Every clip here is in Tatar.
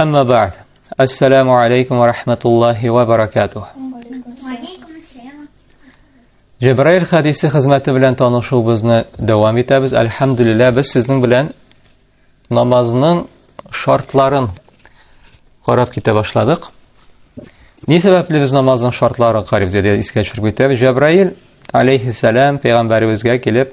Әмма бәғд. Ассаламу алейкум ва рахматуллахи ва баракатух. Җәбраил хадисе хезмәте белән танышуыбызны дәвам итәбез. Әлхәмдүлилләһ, без сезнең белән намазның шартларын карап китә башладык. Ни сәбәпле без намазның шартларын карыйбыз дип искә төшереп китәбез. Җәбраил алейхиссалам пәйгамбәребезгә килеп,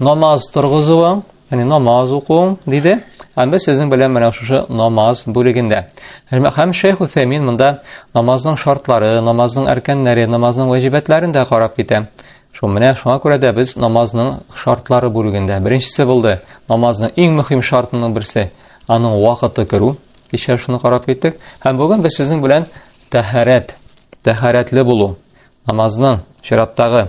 Намаз торгызуың, яни намаз укуың диде. Һәм без сезнең белән менә шушы намаз бүлегендә. Һәм Шейх Усәймин монда намазның шартлары, намазның әркәннәре, намазның вәҗибәтләрен дә карап китә. Шул менә шуңа күрә дә без намазның шартлары бүлегендә. Беренчесе булды, намазның иң мөһим шартының берсе, аның вакыты керү. Кичә шуны карап киттек. Һәм бүген без сезнең белән тәһарәт, тәһарәтле булу, намазның чираттагы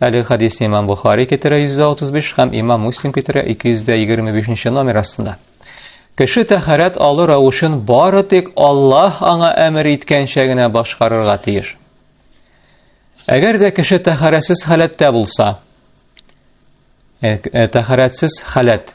Әле хадисне имам Бухари китерә 135 һәм имам Муслим китерә 225 номер астында. Кеше тәхәрәт алу рәвешен бары тик Аллаһ аңа әмер иткәнчә генә башкарырга тиеш. Әгәр дә кеше тәхәрәсез халәттә булса, э, э, тәхәрәтсез халәт,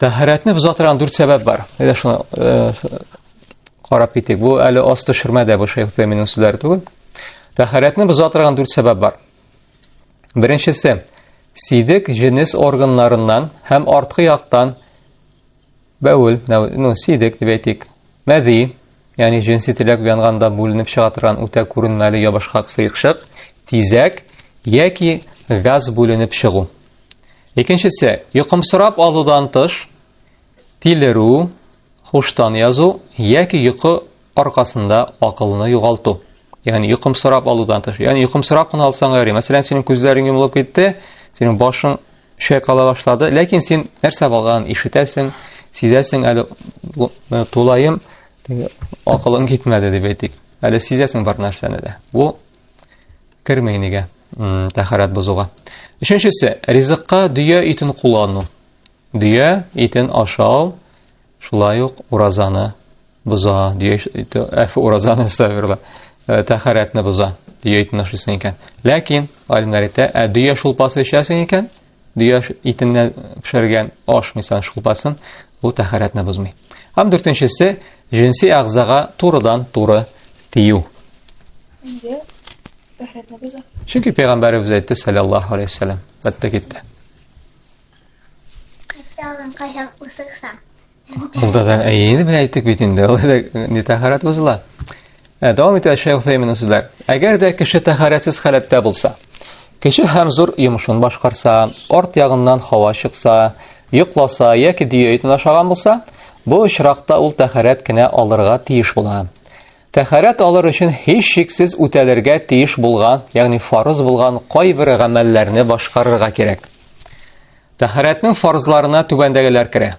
Тәһарәтне боза торган дүрт сәбәп бар. Әйдә шуны э, карап китик. Бу әле асты шөрмәдә бу Шейх Тәминнең сүзләре түгел. Тәһарәтне боза торган дүрт сәбәп бар. Беренчесе, сидек җенес органнарыннан һәм арткы яктан бәүл, ну, сидек дип әйтик, мәзи, ягъни җенси теләк уянганда бүленеп чыга торган үтә күренмәле ябышкак сыекчык, тизәк яки газ бүленеп чыгу. Икенчесе, йокымсырап алудан тыш, тилеру, хуштан язу яки йокы аркасында акылны югалту. Ягъни йокымсырап алудан тыш. Ягъни йокымсырап кына алсаң яри. Мәсәлән, синең күзләрең йомылып китте, синең башың чайкала башлады, ләкин син нәрсә булганын ишетәсең, сизәсең әле э, тулаем акылың китмәде дип әйтик. Әле сизәсең бар нәрсәне дә. Бу Кермәй нигә тәхәрәт бозуга. Өченчесе, ризыкка дөя итен куллану. Дөя итен ашау шулай ук уразаны боза. Дөя ите әфе уразаны сәберле. Э, тәхәрәтне боза. Дөя итен ашыйсың икән. Ләкин алимнәр әйтә, ә дөя шулпасы эчәсең икән, дөя итеннән пешергән аш, мисал, шулпасын, бу тәһарәтне бозмый. Һәм дүртенчесе, җенси әгъзага турыдан туры тию. Нигә тәһарәтне боза? Чөнки пәйгамбәребез әйтте, саллаллаһу алейһи вәсәлләм, бәттә китте. Кайсы алган кайһак усыксаң? Ул да заң әйене белән әйттек бит инде. Ул да не тахарат бозыла. Ә дәвам итә шәйх Фәймин сүзләр. Әгәр дә кеше тахаратсыз халәттә булса, кеше һәм зур йомышын башкарса, арт ягыннан һава чыкса, йокласа яки дөя итен ашаган булса, бу очракта ул тахарат кенә алырга тиеш була. Тәхәрәт алыр өчен һич шиксез үтәлергә тиеш булган, ягъни фарыз булган кайбер гамәлләрне башкарырга кирәк. Тәһарәтнең фарзларына түбәндәгеләр керә.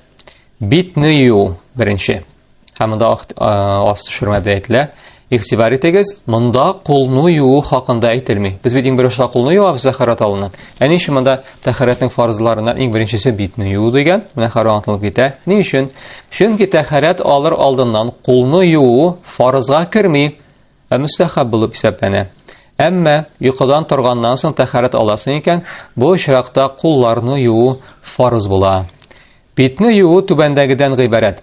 Битне юу беренче. Һәм монда аст төшермәдә әйтелә. Игътибар итегез, монда кулны юу хакында әйтелми. Без бит иң беренче кулны юабыз тәһарәт алыннан. Ә ни өчен монда тәһарәтнең фарзларына иң беренчесе битне юу дигән? Менә хәрәм аңлатылып китә. Ни өчен? Чөнки тәһарәт алыр алдыннан кулны юу фарызга керми. Ә мөстәхәб булып исәпләнә. Әмма йокыдан торганнан соң тәхәрәт аласың икән, бу очракта кулларны юу фарыз була. Битне юу түбәндәгедән гыйбарәт.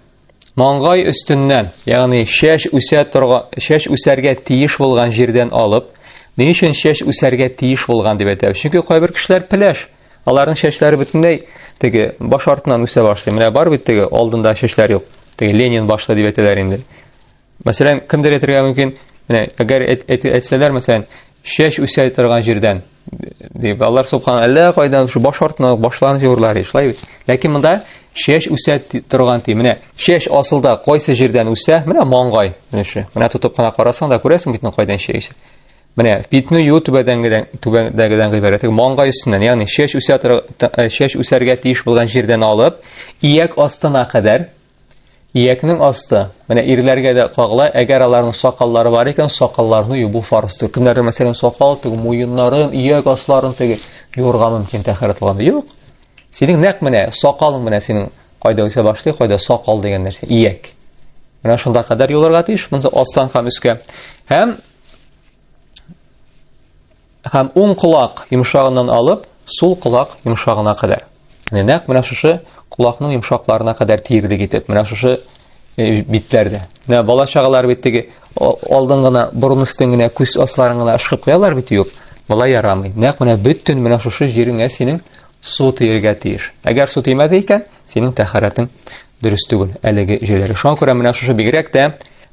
Маңгай өстеннән, ягъни шәш үсә торган, шәш үсәргә тиеш булган җирдән алып, ни өчен шәш үсәргә тиеш булган дип әйтәбез? Чөнки кайбер кешеләр пеләш, аларның шәшләре бөтенләй теге баш артыннан үсә башлый. Менә бар бит теге алдында шәшләр юк. Теге Ленин башлы дип әйтәләр инде. Мәсәлән, кемдер әйтергә мөмкин, менә әгәр әйтсәләр, мәсәлән, чәч үсә торган җирдән дип, алар субхан әллә кайдан шу баш артына башларын җырлар, шулай бит. Ләкин монда чәч үсә торган ди. Менә чәч асылда кайсы җирдән үсә? Менә маңгай өлеше. Менә тотып кына карасаң да күрәсең бит, кайдан чәч үсә. Менә битне юу түбәдәнгедән түбәдәгедән гыйбарәт. Маңгай өстеннән, ягъни чәч үсә чәч үсәргә тиеш булган җирдән алып, ияк астына кадәр Иякнең асты. Менә ирләргә дә кагыла, әгәр аларның сакаллары бар икән, сакалларны юбу фарзтыр. Кемнәрнең мәсәлән сакал теге, муеннарын, ияк асларын теге юрга мөмкин тәхәрәт алганда. Юк. Синең нәкъ менә сакалың менә синең кайда үсә башлый, кайда сакал дигән нәрсә, ияк. Менә шунда кадәр юларга тиеш, монда астан һәм өскә. Һәм Һәм уң колак йомшагыннан алып, сул колак йомшагына кадәр. Менә нәкъ менә шушы колакның йомшакларына кадәр тиердек итеп, менә шушы э, битләрдә. Менә бала чагалар бит теге алдын гына борын өстен генә күз асларын гына ышкып куялар бит юк. Бала ярамый. Нәкъ менә бөтен менә шушы җиреңә синең су тиергә тиеш. Әгәр су тимәде икән, Синең тәхәрәтең дөрес түгел. Әлеге җөйләре. Шуңа күрә менә шушы бигрәк тә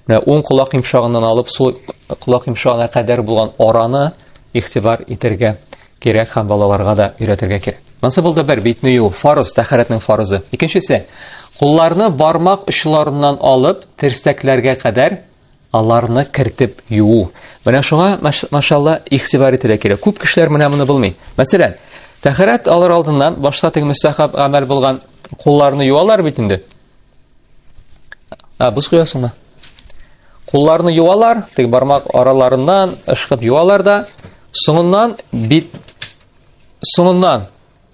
менә уң колак йомшагыннан алып сул колак йомшагына кадәр булган араны игътибар итәргә кирәк һәм балаларга да өйрәтергә кирәк. Монысы булды бер битне юу, фарыз, тәхәрәтнең фарызы. Икенчесе, кулларны бармак очларыннан алып, терсәкләргә кадәр аларны кертеп юу. Менә шуңа машалла ихтибар ителә кирәк. Күп кешеләр менә моны белми. Мәсәлән, тәхәрәт алар алдыннан башта теге мөстәхаб гамәл булган кулларны юалар бит инде. А, бус куясыңмы? Кулларны юалар, теге бармак араларыннан ышкып юалар да, соңыннан бит соңыннан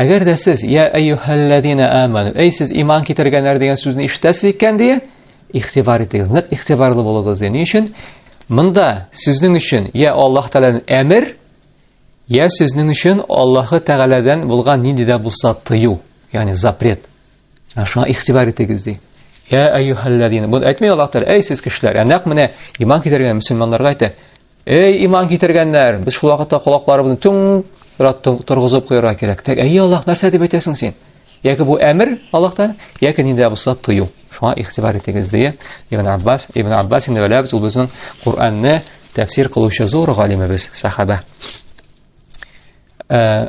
Әгәр дә сез я әйюһәлләзина аману, әй сез иман китергәннәр дигән сүзне ишетәсез икән ди, ихтибар итегез, нык ихтибарлы булыгыз ди. Ни өчен? Монда сезнең өчен я Аллаһ Тәгаләнең әмер, я сезнең өчен Аллаһ Тәгаләдән булган нинди дә булса тыю, ягъни запрет. Шуңа ихтибар итегез ди. Я әйюһәлләзина. Бу әйтми Аллаһ Тәгалә, әй сез кешеләр, ә нәкъ менә иман китергән мусламаннарга әйтә. Эй, иман китергәннәр, без шул вакытта колакларыбызны түң рат торгызып куярга кирәк. Тәк, әй Аллаһ, нәрсә дип әйтәсең син? Яки бу әмер Аллаһтан, яки нидә булса тыю. Шуңа игътибар итегез дия. Ибн Аббас, Ибн Аббас инде беләбез, ул безнең Куранны тәфсир кылучы зур галимебез, сахаба. Э,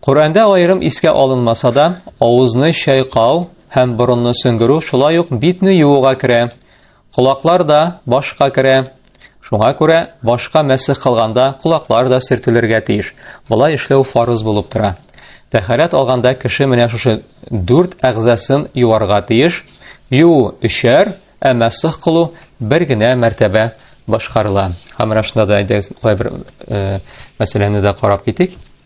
Коръәндә аерым искә алынмаса да, авызны чайкау һәм борынны сөңгерү шулай ук битне юуга керә. Колаклар да башка керә. Шуңа күрә башка мәсех кылганда колаклар да сөртелергә тиеш. Болай эшләү фарыз булып тора. Тәхәрәт алганда кеше менә шушы дүрт әгъзасын юарга тиеш. Юу өчәр, ә мәсех кылу бер генә мәртәбә башкарыла. Һәм менә шунда да әйдәгез кайбер мәсьәләне дә карап китик.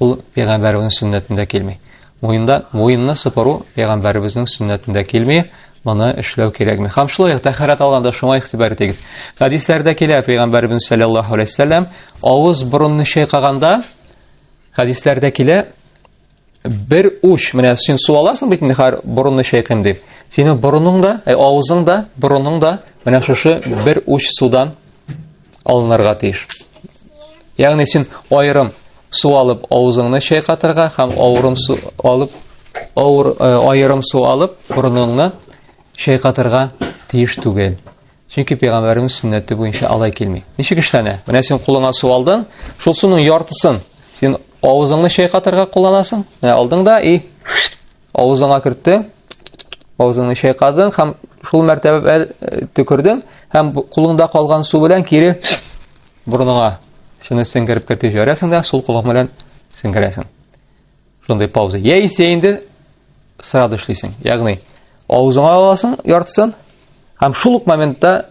Ул пәйгамбәребезнең сөннәтендә килми. Муенда муенны сыпыру пәйгамбәребезнең сөннәтендә килми. Моны эшләү кирәкми. Хәм шулай ук тәһарәт алганда шуңа игътибар итегез. Хәдисләрдә килә пәйгамбәребез саллаллаһу алейһи вәсәлләм авыз борынны чайкаганда хәдисләрдә килә бер уч менә син су аласың бит инде хәр борынны чайкыйм дип. Синең борының да, ә авызың да, борының да менә шушы бер уч судан алынырга тиеш. Ягъни син айрым су алып авызыңны чайкатырга һәм авырым су алып авыр э, айрым су алып бурыныңны чайкатырга тиеш түгел. Чөнки пәйгамбәребез сөннәте буенча алай килми. Ничек эшләнә? Менә син кулыңа су алдың, шул суның яртысын син авызыңны чайкатырга кулланасың. Менә алдың да и Авызыңа кертте, авызыңны чайкадың һәм шул мәртәбә төкердең һәм кулыңда калган су белән кире борыныңа шуны сеңгереп кертеп җибәрәсең дә сул кулың белән сеңгерәсең. Шундый пауза. Яисә инде сразу эшлисең. Ягъни авызыңа аласың яртысын һәм шул ук моментта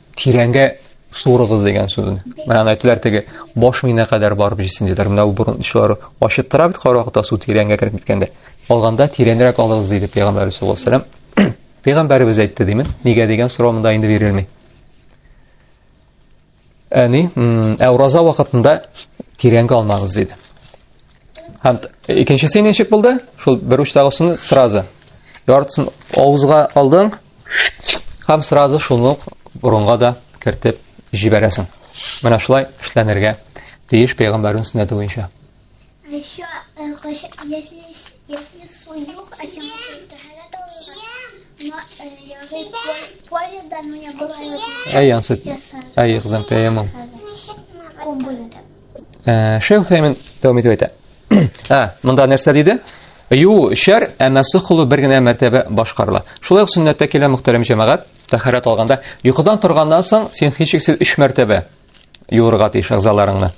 тирәнгә суырыгыз дигән сүзен. Мәгән әйтүләр теге баш мина кадәр барып җисен диләр. Менә бу борынчылары ачыттыра бит каракта су тирәнгә кереп киткәндә. Алганда тирәнрәк алыгыз диде пәйгамбәр саллаллаһу алейһи вәсәлләм. Пәйгамбәребез әйтте димен. Нигә дигән сорау монда инде бирелми. Әни, ә ураза вакытында тирәнгә алмагыз диде. Һәм икенчесе ничек булды? Шул бер учтагы суны сразу. Яртысын авызга алдың, һәм сразу шуны борынга да кертеп җибәрәсең. Менә шулай эшләнергә тиеш пәйгамбәрнең сөннәте буенча. Еще, э, если, если суюк, а сегодня тахарат но э, я уже поле, да, но я была... Ай, ансет. Ай, их замтаемом. Ком будет. Ә, Шейх Сәймен дәвам итеп әйтә. Ә, монда нәрсә диде? Ю шәр, әмма сухлу бер генә мәртәбә башкарыла. Шулай ук сөннәттә килә мөхтәрәм җәмәгать, тәһарәт алганда, йокыдан торганнан соң син һичшиксез 3 мәртәбә юырга тиеш әгъзаларыңны.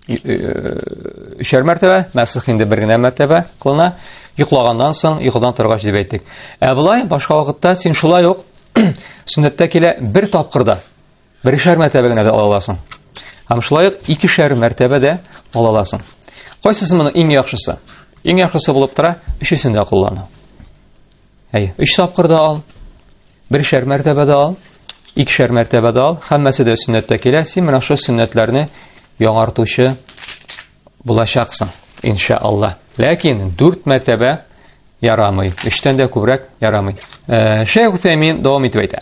Өчәр э, мәртәбә, мәсих инде бер генә мәртәбә кылына. Йоклаганнан соң, йокыдан торгач дип әйттек. Ә болай башка вакытта син шулай ук сөннәттә килә бер тапкырда Берешәр мәртәбә генә дә ала аласың. Һәм шулай ук икешәр мәртәбә дә ала аласың. Кайсысы моның иң яхшысы? Иң яхшысы булып тора, өчесен дә куллану. Әй, өч тапкыр да ал, берешәр мәртәбә дә ал, икешәр мәртәбә дә ал, һәммәсе дә сөннәттә килә, син менә шул сөннәтләрне яңартучы булачаксың, иншалла. Ләкин дүрт мәртәбә ярамый, өчтән дә күбрәк ярамый. Ә, Шәйх Утәймин дәвам итеп әйтә.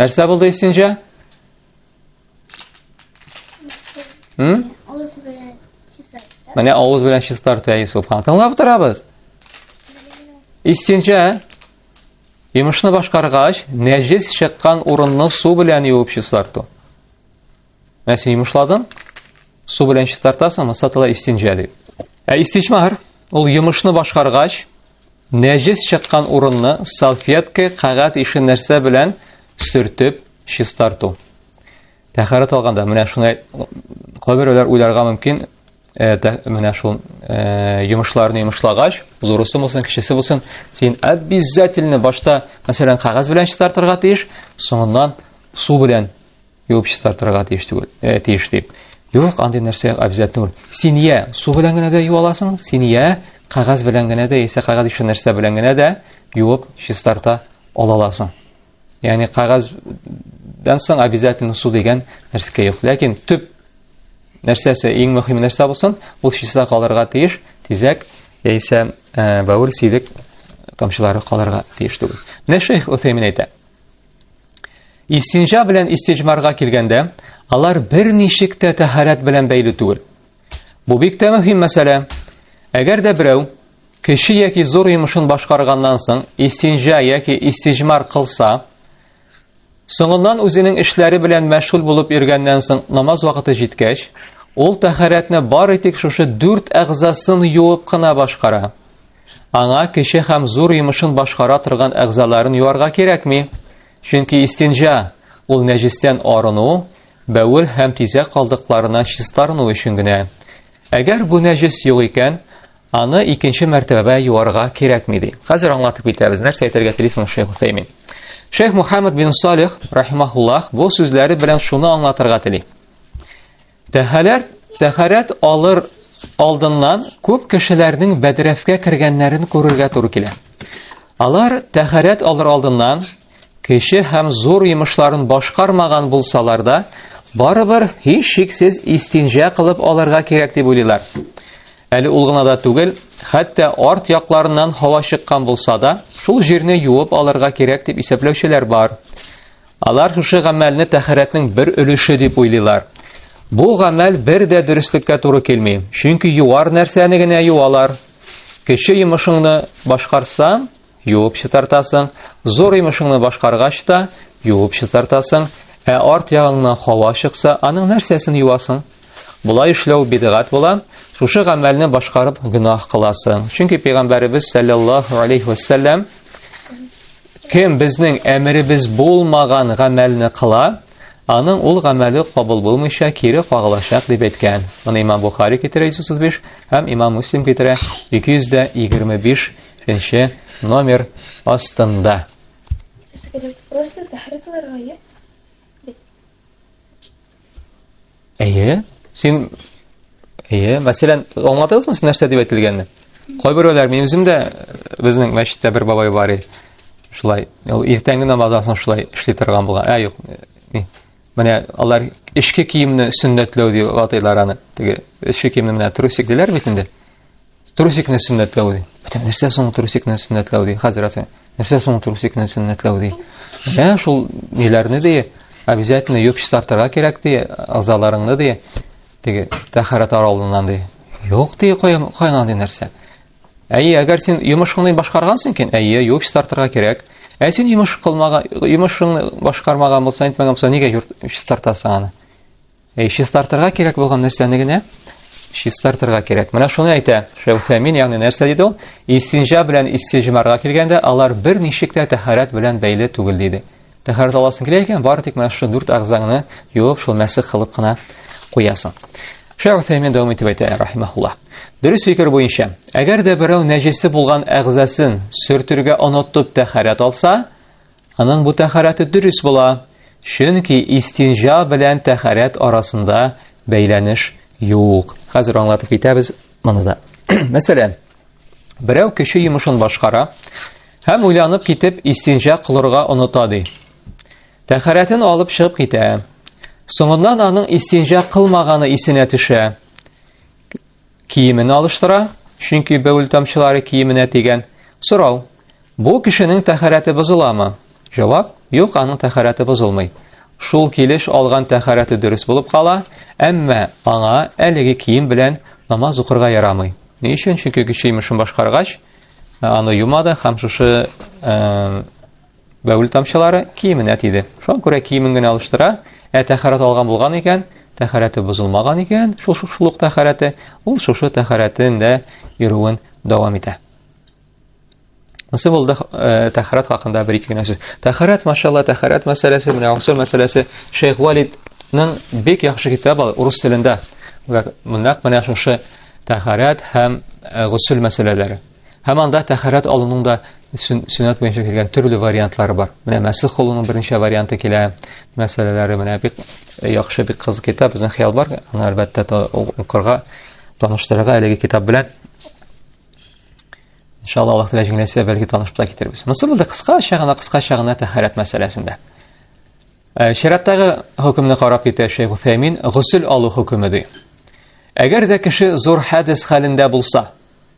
Нәрсә булды исенҗә? Хм? Авыз белән чистарта. Менә авыз белән чистарта Йосыф хан. Тыңлап торабыз. Исенҗә Йомышны башкаргач, нәҗес чыккан урынны су белән юып чистарту. Менә син йомышладың, су белән чистартасың, масатала истинҗа дип. Ә истиҗмар ул йомышны башкаргач, нәҗес чыккан урынны салфетка, кагат ише нәрсә белән сөртеп чистарту. Тәхәрәт алганда менә шуны кайберәүләр уйларга мөмкин, Э, менә шул э, йомышларны йомышлагач, зурысы булсын, кечесе булсын, син обязательно башта, мәсәлән, кагаз белән чистартырга тиеш, соңыннан су белән Юып чистартырга тиеш түгел, э, тиеш дип. Юк, андый нәрсә обязательно түгел. Син я су белән генә дә юа аласың, син я кагаз белән генә дә, яисә кагаз ише нәрсә белән генә дә юып чистарта ала аласың. Ягъни кагаздан соң обязательно су дигән нәрсә юк. Ләкин төп нәрсәсе, иң мөһим нәрсә булсын, ул чиста калырга тиеш, тизәк яисә э, бәвел сидек тамчылары калырга тиеш түгел. Менә шейх Уфеймин әйтә. Истинжа белән истиҗмарга килгәндә, алар бер ничек тә тәһарәт белән бәйле түгел. Бу бик тә мөһим мәсьәлә. Әгәр дә берәү кеше яки зур йомышын башкарганнан соң истинжа яки истиҗмар кылса, соңыннан үзенең эшләре белән мәшгуль булып йөргәннән соң намаз вакыты җиткәч, ул тәһарәтне бары тик шушы дүрт әгъзасын юып кына башкара. Аңа кече һәм зур йомышын башкара торган әгъзаларын юарга кирәкми. Чөнки истинҗа ул нәҗистән арыну, бәвел һәм тизәк калдыкларына чистарыну өчен генә. Әгәр бу нәҗес юк икән, аны икенче мәртәбә юарга кирәкми ди. Хәзер аңлатып китәбез, нәрсә әйтергә телисең Шейх Усәймин. Шейх Мухаммад бин Салих рахимахуллах бу сүзләре белән шуны аңлатырга тели. Тәһарәт, тәһарәт алыр алдыннан күп кешеләрнең бәдрәфкә кергәннәрен күрергә туры килә. Алар тәһарәт алыр алдыннан кеше һәм зур йомышларын башкармаган булсалар да, барыбер һич шиксез истинҗә кылып алырга кирәк дип уйлыйлар. Әле ул гына да түгел, хәтта арт якларыннан һава чыккан булса да, шул җирне юып алырга кирәк дип исәпләүчеләр бар. Алар шушы гамәлне тәхәрәтнең бер өлеше дип уйлыйлар. Бу гамәл бер дә дөреслеккә туры килми, чөнки юар нәрсәне генә юалар. Кече йомышыңны башкарсаң, юып чытартасың, зур йомышыңны башкаргач та юып чытартасың, ә арт ягыңнан һава чыкса, аның нәрсәсен юасың? Болай эшләү бидгат була, шушы гамәлне башкарып гөнаһ кыласың. Чөнки пәйгамбәребез саллаллаһу алейхи ва Кем безнең әмеребез булмаган гамәлне кыла, аның ул гамәле кабул булмыйча кире кагылачак дип әйткән. Моны Имам Бухари китерә 135 һәм Имам Муслим китерә 225 нче номер астында. Просто тәхрир кылырга Әйе. Син Әйе, мәсәлән, аңлатыгызмы сез нәрсә дип әйтелгәнне? Кайберәүләр мин үзем дә безнең мәчеттә бер бабай бар иде. Шулай, ул иртәнге намаздан соң шулай эшли торган булган. Ә юк. Менә алар эшке киемне сөннәтләү дип атыйлар аны. Теге эшке киемне менә трусик диләр бит инде. Трусикны сөннәтләү ди. Бәтәм, нәрсә соң трусикны сөннәтләү ди, хәзрәт? Нәрсә соң трусикны сөннәтләү ди? Менә шул ниләрне ди, обязательно юып чистартырга кирәк ди, азаларыңны ди, теге тәхәрәт аралыннан ди. Юк ди, кайнан ди нәрсә. Әйе, әгәр син йомышыңны башкаргансың икән, әйе, юып чистартырга кирәк. Ә син йомыш кылмаган, йомышыңны башкармаган булсаң, әйтмәгән булсаң, нигә юып чистартасың аны? Әй, чистартырга кирәк булган нәрсәне генә чистартырга кирәк. Менә шуны әйтә Шәүфәмин, ягъни нәрсә диде ул? Истинҗа белән истиҗмарга килгәндә, алар бер ничек тә тәһарәт белән бәйле түгел диде. Тәһарәт аласың килә икән, бары тик менә шул дүрт агзаңны юып, шул мәсех кылып кына куясың. Шәүфәмин дәвам итеп әйтә, рахимахулла. Дөрес фикер буенча, әгәр дә берәү нәҗесе булган агзасын сөртергә онытып тәһарәт алса, Аның бу тәхәрәте дөрес була, чөнки истинҗа белән тәхәрәт арасында бәйләнеш юк. Хәзер аңлатып китәбез моны да. Мәсәлән, берәү кеше йомышын башкара һәм уйланып китеп истинҗа кылырга оныта ди. Тәхәрәтен алып чыгып китә. Соңыннан аның истинҗа кылмаганы исенә төшә. Киемен алыштыра, чөнки бәүл тамчылары киеменә тигән. Сорау. Бу кешенең тәхәрәте бозыламы? Җавап. Юк, аның тәхәрәте бозылмый. Шул килеш алган тәхәрәте дөрес булып кала, әмма аңа әлеге кием белән намаз укырга ярамый. Ни өчен? Чөнки кеше имешен башкаргач, аны юмады һәм шушы Бәүл тамчылары киеменә тиде. Шуңа күрә киемен генә алыштыра, ә тәхәрәт алган булган икән, тәхәрәте бозылмаган икән, шул шушлык тәхәрәте, ул шушы тәхәрәтен дә йөрүен дәвам итә. Насып булды э, тәхәрәт хакында бер ике генә сүз. Тәхәрәт, машалла, тәхәрәт мәсьәләсе, менә гусул мәсьәләсе Шейх Валидның бик яхшы китабы урыс телендә. Монда менә шушы тәхәрәт һәм э, гусул мәсьәләләре. Һәм анда тәхәрәт алуның да сөннәт буенча килгән төрле вариантлары бар. Менә мәсих кылуның берничә варианты килә, мәсьәләләре менә бик э, яхшы бик кызык китап, безнең хыял бар. Аны әлбәттә укырга, таныштырырга әлеге китап белән. Иншалла Аллаһ тәгалә җиңеләсә, бәлки танышып та китербез. Монысы булды кыскача гына, кыскача гына тәхәрәт мәсьәләсендә. Э, Шәраттагы хөкемне карап китә Шәйх Уфәймин, гусел алу хөкеме ди. Әгәр дә кеше зур хәдис хәлендә булса,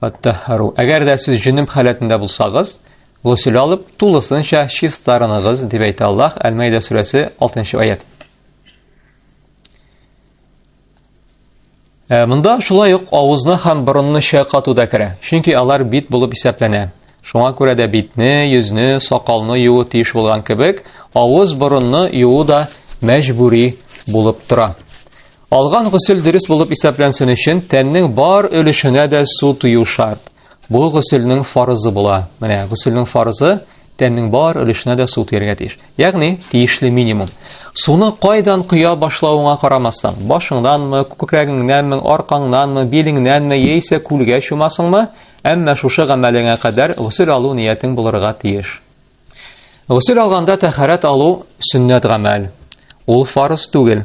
Аттахару. Әгәр дә сез җенем халәтендә булсагыз, гусел алып, тулысынча чистарыныгыз, дип әйтә Аллаһ, Әл-Мәйдә сүрәсе 6 аят. Э, Монда шулай ук авызны һәм борынны чайкату да керә, чөнки алар бит булып исәпләнә. Шуңа күрә дә битне, йөзне, сакалны юу тиеш булган кебек, авыз, борынны юу да мәҗбүри булып тора. Алган гусел дөрес булып исәпләнсен өчен, тәннең бар өлешенә дә су тую шарт. Бу гуселнең фарызы була. Менә гуселнең фарызы тәннең бар өлешенә дә су тияргә тиеш. Ягъни, тиешле минимум. Суны кайдан коя башлавыңа карамастан, башыңнанмы, күкрәгеңнәнме, аркаңнанмы, билеңнәнме, яисә күлгә чумасыңмы, әмма шушы гамәлеңә кадәр гусел алу ниятең булырга тиеш. Гусел алганда тәхәрәт алу сөннәт гамәл. Ул фарыз түгел.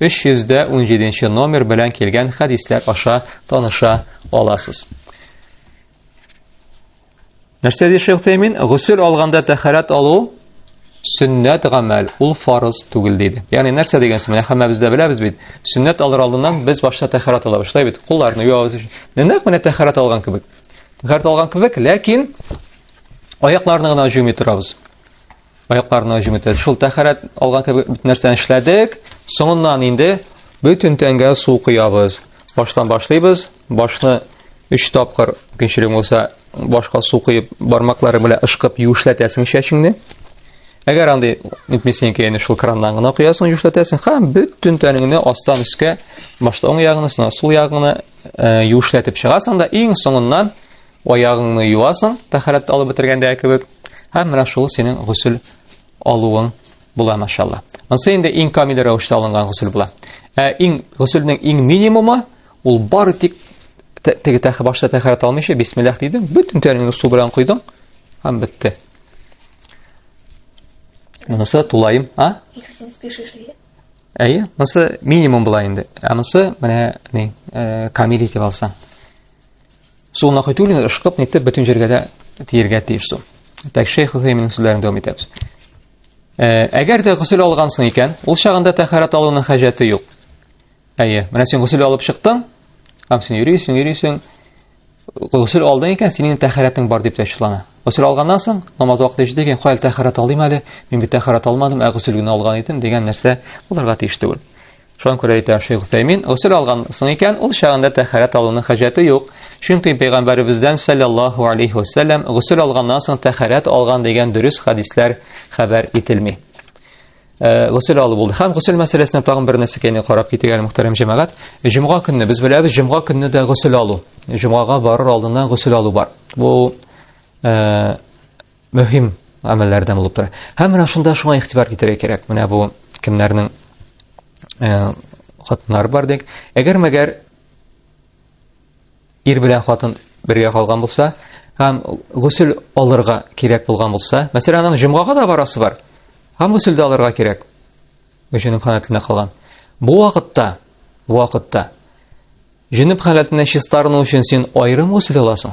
317 номер белән килгән хәдисләр аша таныша аласыз. Нәрсә ди Шейх Тәймин? Гусел алганда тәхәрәт алу сөннәт гамәл, ул фарыз түгел диде. Ягъни нәрсә дигән сүз? Менә һәммәбез дә беләбез бит. Сөннәт алыр алдыннан без башта тәхәрәт алабыз, шулай бит? Кулларны юабыз. Нәкъ менә тәхәрәт алган кебек. Тәхәрәт алган кебек, ләкин аякларны гына җуймый торабыз. Аякларына һөҗүм итте. Шул тәхәрәт алган кебек бөтен нәрсәне эшләдек. Соңыннан инде бөтен тәнгә су коябыз. Баштан башлыйбыз. Башны 3 тапкыр мөмкинчелек булса башка су коеп, бармаклары белән ышкып юешләтәсең чәчеңне. Әгәр андый итмисең икән, шул краннан гына коясың, юешләтәсең. Һәм бөтен тәнеңне астан өскә, башта уң ягыңны, соңа сул ягыңны э, юешләтеп чыгасың да иң соңыннан Аягыңны юасың, тәхәрәт алып бетергәндә кебек. Һәм менә шул синең гусел алуың була, машалла. Монсы инде иң камил рәвештә алынган гусел була. Ә иң гуселнең иң минимумы ул бары тик теге тәхә башта тәхәрәт алмыйча бисмиллах дидең, бөтен тәнеңне су белән койдың һәм бетте. Монысы тулаем, а? Әйе, монысы минимум була инде. Ә монысы менә ни, э, камил итеп алсаң. Су нахитулин ышкып нитеп бөтен җиргә дә тиергә тиеш су. Так шейх Хусейминның сүзләрен дәвам итәбез. Э, әгәр дә гусел алгансың икән, ул чагында тәһарәт алуның хаҗәте юк. Әйе, менә син гусел алып чыктың, һәм син йөрисең, йөрисең. Гусел алдың икән, синең тәһарәтең бар дип тәшвиклана. Гусел алганнан соң, намаз вакыты җитә икән, кая тәһарәт алыйм әле? Мин бит тәһарәт алмадым, ә гусел генә алган идем дигән нәрсә булырга тиеш түгел. Шуңа күрә әйтә Шейх Утәймин, гусел алган соң икән, ул чагында тәхәрәт алуның хаҗәте юк. Чөнки пәйгамбәребездән саллаллаһу алейхи ва саллям гусел алганнан соң тәхәрәт алган дигән дөрес хадисләр хәбәр ителми. Э, гусел алу булды. Һәм гусел мәсьәләсенә тагын бер нәрсә кенә карап китик әле мөхтәрәм җәмәгать. Җомга көнне без беләбез, җомга көнне дә гусел алу. Җомгага барыр алдыннан гусел алу бар. Бу э, мөһим гамәлләрдән булып тора. Һәм менә шунда шуңа игътибар китерергә кирәк. Менә бу кемнәрнең э, хатыннары бар дик. Әгәр мәгәр ир белән хатын бергә калган булса, һәм гусел алырга кирәк булган булса, мәсәлән, аның җомгага да барасы бар. Һәм гусел дә алырга кирәк. Өченең халәтендә калган. Бу вакытта, бу вакытта җинеп халәтенә чистарыну өчен син аерым гусел аласың.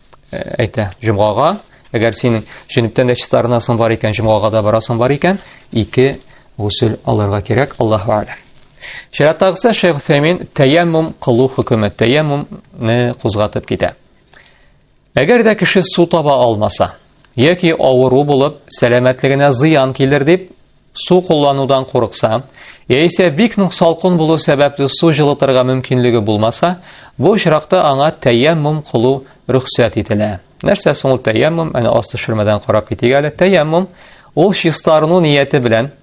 әйтә җомгага әгәр синең җөнептән дә чиста арынасың бар икән җомгага да барасың бар икән ике гусел алырга кирәк аллаһу аләм Шираттагысы Шейх Фәмин тәяммум кылу хөкеме, тәяммумны кузгатып китә. Әгәр дә кеше су таба алмаса, яки авыру булып, сәламәтлегенә зыян килер дип, Су кулланудан курыкса, яисә бик нык салкын булу сәбәпле су җылытырга мөмкинлеге булмаса, бу очракта аңа тәяммум кылу рөхсәт ителә. Нәрсә соң ул тәяммум? Әнә аст төшермәдән карап китик әле. Тәяммум ул чистарыну нияте белән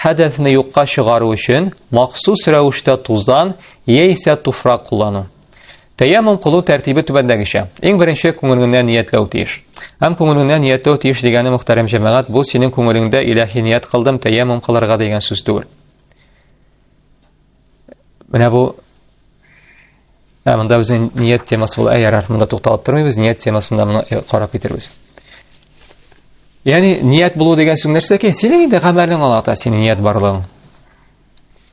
хәдәсне юкка чыгару өчен махсус рәвештә туздан яисә туфрак куллану. Тәяммум кылу тәртибе түбәндәгечә. Иң беренче күңелеңнән ниятләү тиеш. Һәм күңелеңнән ниятләү тиеш дигәне мөхтәрәм җәмәгать, бу синең күңелеңдә иләһи ният кылдым тәяммум кылырга дигән сүз түгел. Менә бу Ә монда безнең ният темасы ул әгәр артында тукталып тормыйбыз, ният темасында моны э, карап китербез. Ягъни ният булу дигән сүз нәрсә икән? Синең инде гамәлең алата, синең ният барлыгың.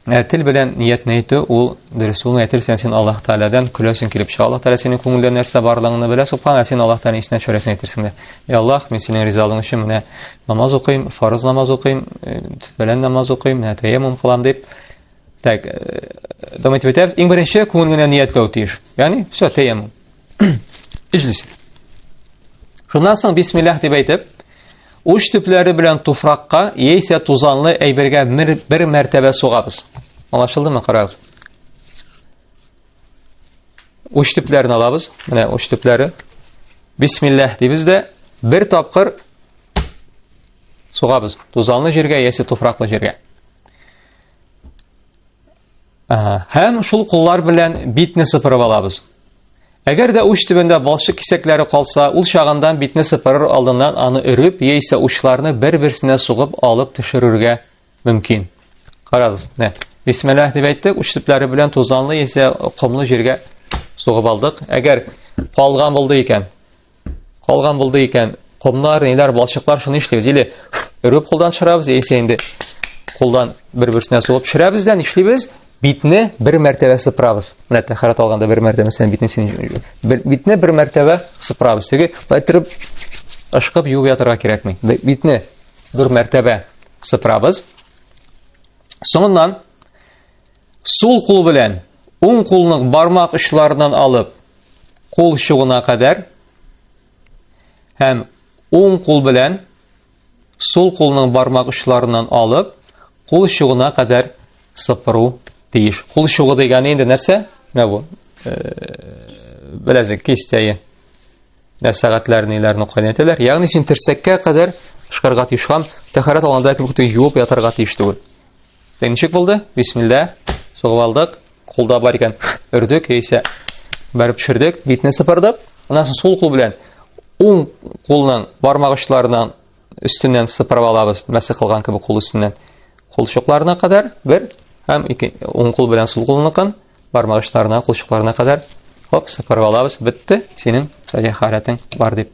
Ә тел белән ниятне әйтү ул дөрес ул әйтел сен син Аллаһ Тааладан күләсен килеп чыга. Аллаһ Таала синең күңелдә нәрсә барлыгын белә, субхан син Аллаһ Тааладан исенә төшерәсен әйтерсең дә. Эй Аллаһ, мин синең ризалыгың өчен менә намаз укыйм, фарыз намаз укыйм, белән намаз укыйм, менә таяммум кылам дип. Так, дәвам итеп әйтәбез. Иң беренче күңел генә ниятләү тиеш. Ягъни, все, таяммум. Иҗлис. Шуннан соң бисмиллаһ дип әйтеп, Уч төпләре белән туфракка яисә тузанлы әйбергә бер, бер мәртәбә сугабыз. Аңлашылдымы, карагыз? Уч төпләрен алабыз. Менә уч төпләре. Бисмиллаһ дибез дә бер тапкыр сугабыз. Тузанлы җиргә яисә туфраклы җиргә. Һәм шул куллар белән битне сыпырып алабыз. Әгәр дә уч төбендә балчык кисәкләре калса, ул чагындан битне сыпырыр алдыннан аны өреп, яисә учларны бер-берсенә сугып алып төшерергә мөмкин. Карагыз, менә бисмиллаһ дип әйттек, уч төпләре белән тузанлы яисә комлы җиргә сугып алдык. Әгәр калган булды икән, Калган булды икән, комнар, ниләр, балчыклар, шуны эшлибез. Или өреп кулдан чырабыз, яисә инде кулдан бер-берсенә суып чырабыз да нишлибез? Битне бер мәртәбә сыпрабыз. Менә тәхәрәт алганда бер мәртәбә сен битне син битне бер мәртәбә сыпрабыз. Теге лайтерып ышкып юып ятырга кирәкми. Битне бер мәртәбә сыпрабыз. Соңыннан Сул кул белән уң кулның бармак очларыннан алып, кул чугына кадәр һәм уң кул белән сул кулның бармак очларыннан алып, кул чугына кадәр сыпыру тиеш. Кул чугы дигәне инде нәрсә? Менә бу. Беләзек кистәе. Нәрсә сәгатьләр ниләрне кайнаталар? Ягъни син терсәккә кадәр шкарга тишкан, тәхәрәт алганда кебек юып ятарга тиеш түгел. Тек ничек булды? Бисмилла. Сугып алдык. Кулда бар икән. Өрдек яисә бәреп төшердек. Битне сыпырдык. Аннан соң сул кул белән уң кулның бармак очларынан өстеннән сыпырып алабыз. Мәсе кылган кебек кул өстеннән. Кулчыкларына кадәр бер һәм ике уң кул белән сул кулныкын бармак очларына, кулчыкларына кадәр Хоп, сыпырып алабыз, бетте, синең сәлихәрәтең бар дип.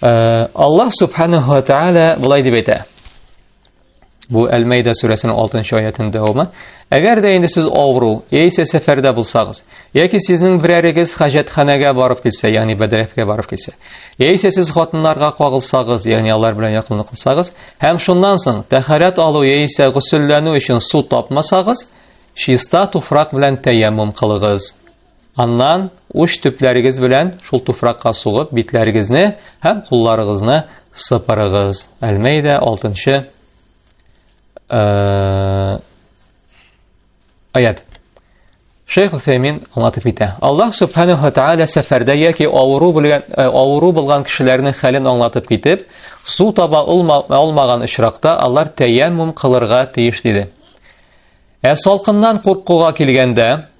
Аллаһ субханаһу ва тааля былай дип әйтә. Бу Әл-Мәйдә сүрәсенең 6-нчы аятының дәвамы. Әгәр дә инде сез авыру, яисә сәфәрдә булсагыз, яки сезнең берәрегез хаҗәтханәгә барып килсә, ягъни бәдрәфкә барып килсә, яисә сез хатыннарга кагылсагыз, ягъни алар белән якынлык кылсагыз, һәм шуннан соң тәхәрәт алу яисә гусүлләнү өчен су тапмасагыз, чиста туфрак белән тәяммум кылыгыз. Аннан уч төпләрегез белән шул туфракка сугып битләрегезне һәм кулларыгызны сыпырыгыз. Әлмәйдә 6-нчы э, аят. Шейх Усаймин аңлатып итә. Аллаһ субханаһу ва тааля сәфәрдә яки авыру белгән э, авыру булган кешеләрнең хәлен аңлатып китеп, су таба алмаган очракта алар тәяммум кылырга тиеш диде. Ә салкыннан куркуга килгәндә,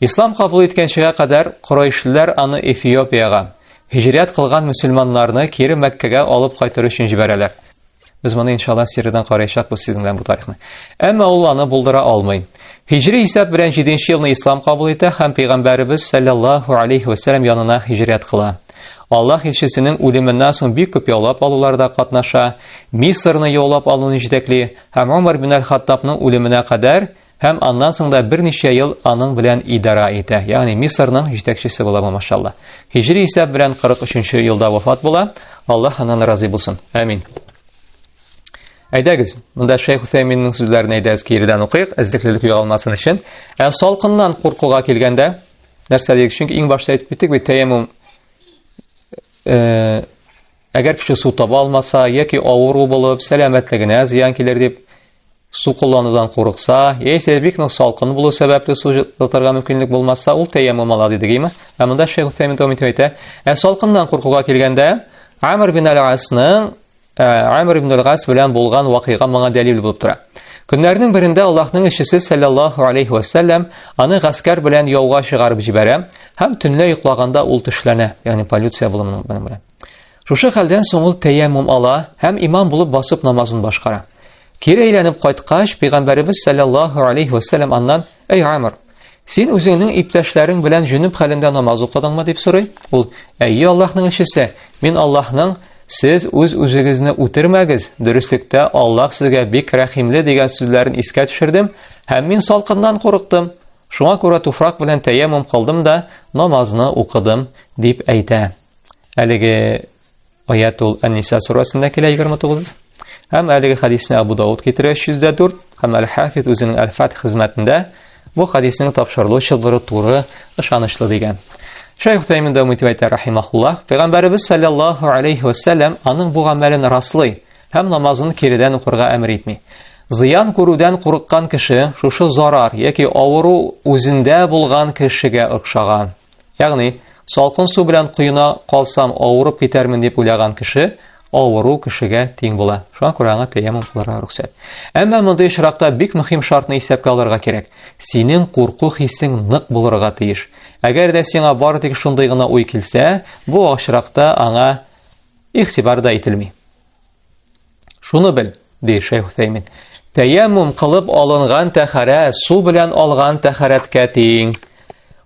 Ислам кабул иткәнчегә кадәр корайшиләр аны Эфиопиягә, һиҗрәт кылган мөселманнарны кире Мәккәгә алып кайтыр өчен җибәрәләр. Без моны иншалла сериядән караячакбыз сезнең белән бу тарихны. Әмма ул аны булдыра алмый. Һиҗри исәп белән 7 нче елны ислам кабул итә һәм пәйгамбәребез саллаллаһу алейхи ва саллям янына һиҗрәт кыла. Аллаһ илчесенең үлеменнән соң бик күп яулап алуларда катнаша, Мисырны яулап алуны җитәкли һәм Умар бин аль-Хаттабның үлеменә кадәр Һәм аннан соң да берничә ел аның белән идара итә, ягъни Мисырның җитәкчесе була бу машалла. Һиҗри исәп белән 43-нче елда вафат була. Аллаһ аннан разый булсын. Амин. Әйдәгез, монда Шейх Усәйминнең сүзләрен әйдәгез киредән укыйк, эзлеклелек югалмасын өчен. Ә салкыннан куркуга килгәндә, нәрсә дигез? Чөнки иң башта әйтеп киттек бит, тәяммум э, әгәр кеше су таба алмаса, яки авыру булып, сәламәтлегенә зыян килер дип, Су кулланудан курыкса, яисә бик нык салкын булу сәбәпле су җылытырга мөмкинлек булмаса, ул тәяммум ала диде гыйма. Ә монда Шейх Усәймин дәвам итеп әйтә, ә салкыннан куркуга килгәндә, Амр бин Аль-Асның Амр ибн Аль-Гас белән булган вакыйга моңа дәлил булып тора. Көннәрнең берендә Аллаһның илчесе саллаллаһу алейхи ва саллям аны гаскәр белән яуга чыгарып җибәрә һәм төнлә йоклаганда ул төшләнә, ягъни полиция булымының белән. Шушы хәлдән соң ул тәяммум ала һәм имам булып басып намазын башкара. Кире әйләнеп кайткач, пәйгамбәребез саллаллаһу алейхи ва саллям аннан: "Әй Амр, син үзеңнең иптәшләрең белән җөнүп хәлендә намаз укыдыңмы?" дип сорый. Ул: "Әйе, Аллаһның илчесе, мин Аллаһның Сез үз үзегезне үтермәгез, дөреслектә Аллаһ сезгә бик рәхимле дигән сүзләрен искә төшердем, һәм мин салкыннан курыктым. Шуңа күрә туфрак белән тәяммум кылдым да намазны укыдым, дип әйтә. Әлеге аят ул Ән-Ниса сурасында килә 29. Һәм әлеге хадисне Абу Дауд китерә 304 һәм Әл-Хафиз үзенең Әл-Фат хезмәтендә бу хадисның тапшырылу чылбыры туры ышанычлы дигән. Шәйх Тәймин дәвам итеп әйтә рахимахуллах, Пәйгамбәребез саллаллаһу алейхи ва саллям аның бу гамәлен раслый һәм намазын киридән укырга әмер итми. Зыян күрүдән курыккан кеше шушы зарар яки авыру үзендә булган кешегә охшаган. Ягъни, салкын су белән коена калсам, авырып китәрмен дип уйлаган кеше авыру кешегә тиң була. Шуңа күрә аңа тәяммум кылырга рөхсәт. Әмма мондый очракта бик мөһим шартны исәпкә алырга кирәк. Синең курку хисең нык булырга тиеш. Әгәр дә сиңа бары тик шундый гына уй килсә, бу очракта аңа ихтибар да ителми. Шуны бел, ди Шейх Усәймин. Тәяммум кылып алынган тәхәрә су белән алган тәхәрәткә тиң.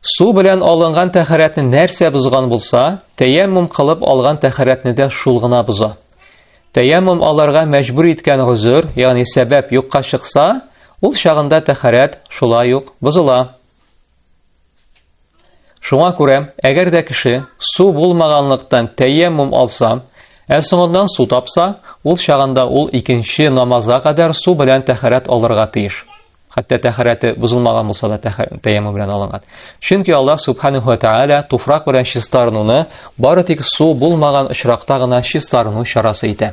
Су белән алынган тәхәрәтне нәрсә бозган булса, тәяммум кылып алган тәхәрәтне дә шул гына боза. Тәяммум аларга мәҗбүр иткән гозер, ягъни сәбәп юкка чыкса, ул чагында тәхәрәт шулай ук бозыла. Шуңа күрә, әгәр дә кеше су булмаганлыктан тәйәммүм алса, ә соңыннан су тапса, ул чагында ул икенче намазга кадәр су белән тәхәрәт алырга тиеш. Хәтта тәхәрәте бозылмаган булса да тәйәммүм белән алынган. Чөнки Аллаһ субханаһу ва тааля туфрак белән чистарынуны бары тик су булмаган очракта гына чистарыну чарасы итә.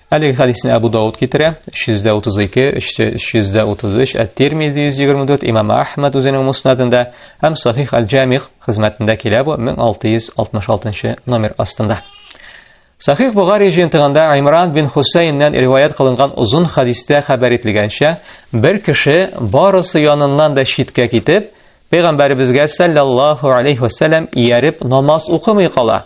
Әлеге хәдисне Абу Дауд китерә, 332, 333, Әт-Тирмизи 124, Имам Ахмад үзенең муснадында һәм Сахих Аль-Җамих хезмәтендә килә бу 1666 номер астында. Сахих Бугари җыентыгында Имран бин Хусейннән риваят кылынган озын хәдистә хәбәр ителгәнчә, бер кеше барысы яныннан да читкә китеп, Пәйгамбәребезгә саллаллаһу алейхи ва саллям ияреп намаз укымый кала.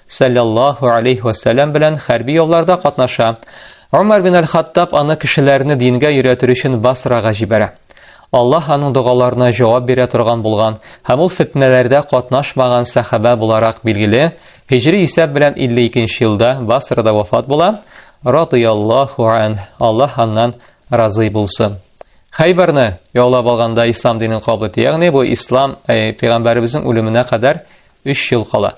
сәлләллаһу алейхи вәсәләм белән хәрби ялларда катнаша. Умар бин Аль-Хаттаб аны кешеләрне дингә өйрәтер өчен Басрага җибәрә. Аллаһ аның догаларына җавап бирә торган булган һәм ул фетнәләрдә катнашмаган сәхәбә буларак билгеле, һиҗри исәп белән 52 елда Басрада вафат була, радыяллаху ан, Аллаһ аннан разый булсын. Хәйбәрне яулап алганда ислам динен кабул итә, ягъни бу ислам э, пәйгамбәребезнең үлеменә кадәр Өч ел кала.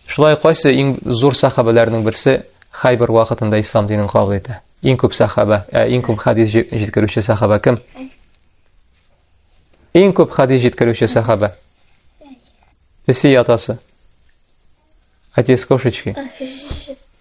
Шулай кайсы иң зур сахабәләрнең берсе Хайбер вакытында ислам динен кабул итә? Иң күп сахаба, ә иң күп хадис җиткерүче сахаба кем? Иң күп хадис җиткерүче сахаба. Песи ятасы. Отец кошечки.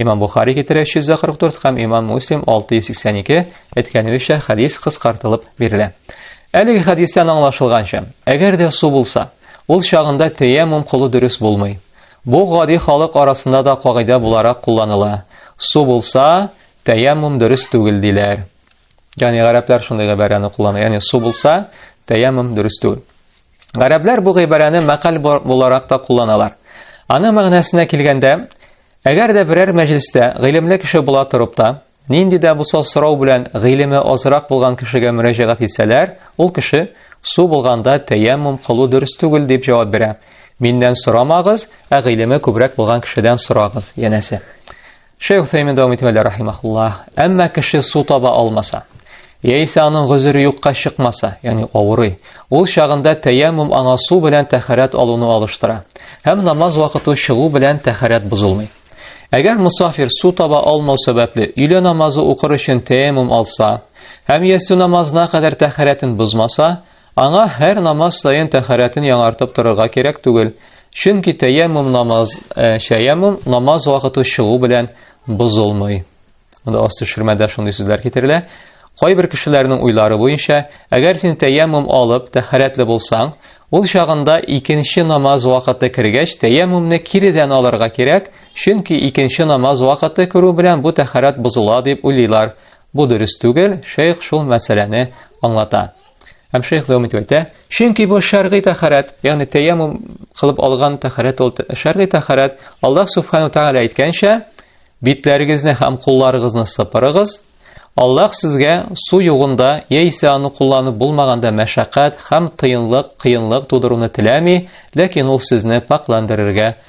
Имам Бухари китерә 344 һәм Имам Муслим 682 әйткәнебезчә хадис кыскартылып бирелә. Әлеге хадистан аңлашылганча, әгәр дә су булса, ул чагында тәяммум кылу дөрес булмый. Бу гади халык арасында да кагыйдә буларак кулланыла. Су булса, тәяммум дөрес түгел диләр. Яни гарәпләр шундый гыйбарәне куллана. Яни су булса, тәяммум дөрес түгел. Гарәпләр бу гыйбарәне мәкаль буларак та кулланалар. Аны мәгънәсенә килгәндә, әгәр дә берәр мәҗлестә гыйлемле кеше була торып та, нинди дә булса сорау белән гыйлеме азрак булган кешегә мөрәҗәгать итсәләр, ул кеше су булганда тәяммум кылу дөрес түгел дип җавап бирә. Миннән сорамагыз, ә гыйлеме күбрәк булган кешедән сорагыз, янәсе. Шәйх Сәймен дәвам итеп әле рахимахуллах. Әмма кеше су таба алмаса, яисә аның гозере юкка чыкмаса, ягъни авырый, ул чагында тәяммум аңа су белән тәхәрәт алуны алыштыра. Һәм намаз вакыты чыгу белән тәхәрәт бозылмый. Әгәр мусафир су таба алмау сәбәпле өйлә намазы укыр өчен тәяммум алса, һәм ястү намазына кадәр тәхәрәтен бозмаса, Аңа һәр намаз саен тәхәрәтен яңартып торырга кирәк түгел, чөнки тәяммум намаз, ә, шәяммум намаз вакыты чыгу белән бозылмый. Монда асты ширмәдә шундый сүзләр китерелә. Кайбер кешеләрнең уйлары буенча, әгәр син тәяммум алып, тәхәрәтле булсаң, ул чагында икенче намаз вакыты кергәч, тәяммумны киредән алырга кирәк, чөнки икенче намаз вакыты керү белән бу тәхәрәт бозыла дип уйлыйлар. Бу дөрес түгел, шейх шул мәсьәләне аңлата. Һәм шейх дәвам итеп әйтә, чөнки бу шәргый тәхәрәт, ягъни тәяммум кылып алган тәхәрәт ул шәргый тәхәрәт. Аллаһ субхану тагала әйткәнчә, битләрегезне һәм кулларыгызны сыпырыгыз. Аллаһ сезгә су югында яисә аны кулланып булмаганда мәшәкать һәм тыенлык, кыенлык тудыруны теләми, ләкин ул сезне пакландырырга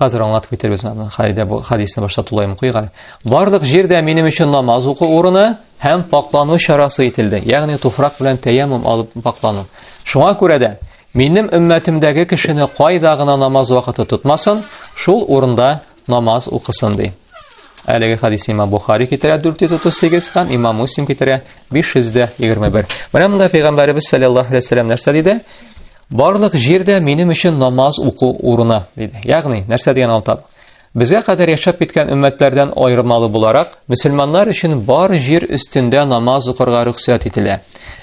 Хәзер аңлатып китербез аны. Хәйдә бу хадисны башта тулаем куйган. Барлык җирдә минем өчен намаз уку урыны һәм паклану чарасы ителде. Ягъни туфрак белән тәяммум алып паклану. Шуңа күрә дә минем өммәтемдәге кешене кайда гына намаз вакыты тотмасын, шул урында намаз укысын ди. Әлеге хадисны Имам Бухари китерә 438 һәм Имам Муслим китерә 521. Менә монда Пәйгамбәребез саллаллаһу алейһи ва нәрсә диде? Барлык җир дә минем өчен намаз уку урыны, диде. Ягъни, нәрсә дигән алтап? Безгә кадәр яшәп киткән өммәтләрдән аермалы буларак, мөселманнар өчен бар җир өстендә намаз укырга рөхсәт ителә.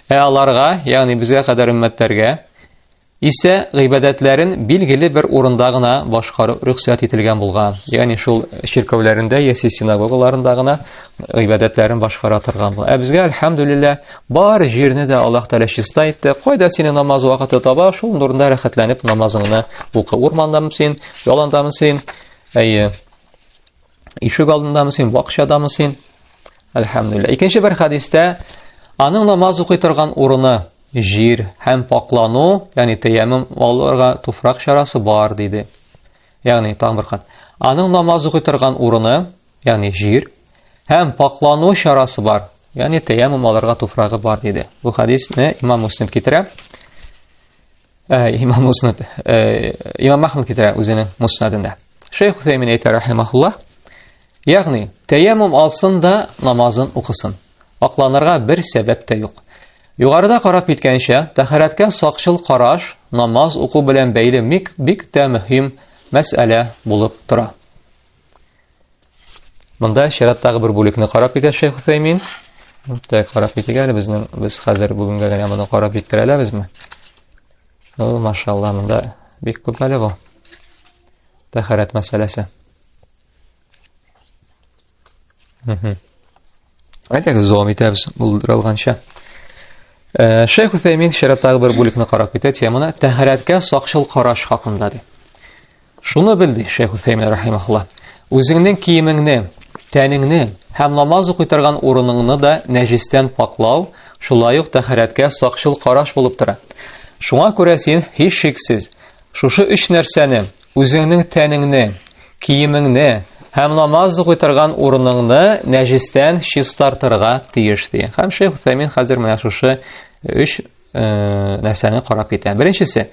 Ә аларга, ягъни безгә кадәр өммәтләргә, исә гыйбадәтләрен билгеле бер урында гына башкару рөхсәт ителгән булган. Ягъни шул чиркәүләрендә яки синагогаларында гына гыйбадәтләрен башкара торган була. Ә безгә, альхамдулиллаһ, Бар җирне дә Аллаһ Тәгалә чиста итте. Кайда сине намаз вакыты таба, шул нурында рәхәтләнеп намазыңны укы. Урмандамы син, яландамы син, әйе, ишек алдындамы син, бакчадамы син? Әлхәмдүлилләһ. Икенче бер хәдистә аның намаз укый торган урыны җир һәм паклану, ягъни тәяммум алырга туфрак чарасы бар диде. Ягъни тагын бер кат. Аның намаз укый торган урыны, ягъни җир Һәм пакълану чарасы бар. Ягъни тәяммум алырга туфрагы бар диде. Бу хадисне Имам Муслим китерә. Э, имам Муслим, э, Имам Ахмад китерә үзенең Муснадында. Шейх Хусеймин әйтә рахимахуллаһ. Ягъни тәяммум алсын да намазын укысын. Акланырга бер сәбәп тә юк. Югарыда карап киткәнчә, тәһарәткә сакчыл караш намаз уку белән бәйле мик бик тә мөһим мәсьәлә булып тора. Монда чираттагы бер бүлекне карап китә Шейх Хусеймин. Монда карап китә әле безнең без хәзер бүгенгә генә моны карап җиткерә алабызмы? Ну, машалла, монда бик күп әле бу. Тәхәрәт мәсьәләсе. Мм. Әйтәк, зом итәбез булдырылганча. Э, Шейх Хусеймин чираттагы бер бүлекне карап китә теманы тәхәрәткә сакчыл караш хакында ди. Шуны бел, ди Шәйх Усәймин рахимахулла. Үзеңнең киемеңне, тәнеңне һәм намаз укый торган урыныңны да нәҗестән паклау, шулай ук тәхәрәткә сакчыл караш булып тора. Шуңа күрә син һичшиксез шушы өч нәрсәне, үзеңнең тәнеңне, киемеңне һәм намаз укый торган урыныңны нәҗестән чистартырга тиеш, ди. Һәм Шәйх Усәймин хәзер менә шушы өч нәрсәне карап китә. Беренчесе,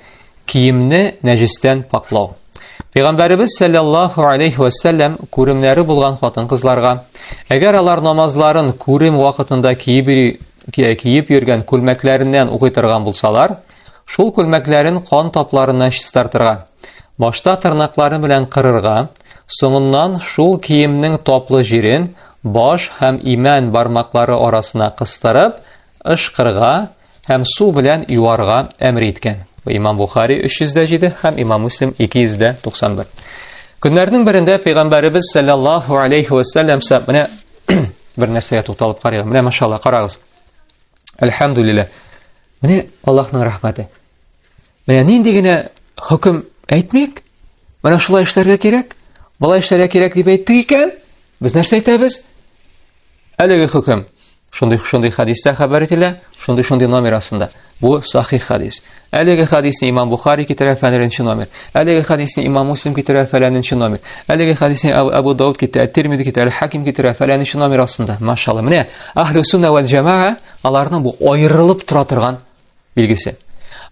киемне нәҗестән паклау. Пәйгамбәребез саллаллаху алейхи ва саллям күремнәре булган хатын-кызларга, әгәр алар намазларын күрем вакытында киеп киеп йөргән күлмәкләреннән укый торган булсалар, шул күлмәкләрен кан тапларына чистартырга, башта тырнаклары белән кырырга, соңыннан шул киемнең таплы җирен баш һәм имән бармаклары арасына кыстырып, ышкырга һәм су белән юарга әмер иткән. Имам Бухари 307 һәм Имам Муслим 291. Көннәрнең берендә пәйгамбәребез саллаллаһу алейхи ва саллям менә бер нәрсәгә тукталып карыйк. Менә машалла, карагыз. Әлхәмдулилла. Менә Аллаһның рәхмәте. Менә нинди генә хөкем әйтмик, менә шулай эшләргә кирәк, болай эшләргә кирәк дип әйтте икән, без нәрсә әйтәбез? Әлеге хөкем шундый шундый хадистә хәбәр ителә, шундый шундый номер астында. Бу сахих хадис. Әлеге хадисне имам Бухари китерә фәнренче номер. Әлеге хадисне имам Муслим китерә фәләненче номер. Әлеге хадисне Абу Дауд китерә, Тирмиди китерә, Хаким китерә фәләненче номер астында. Машалла. Менә ахлю сунна вәл җамаа аларның бу аерылып тора торган билгесе.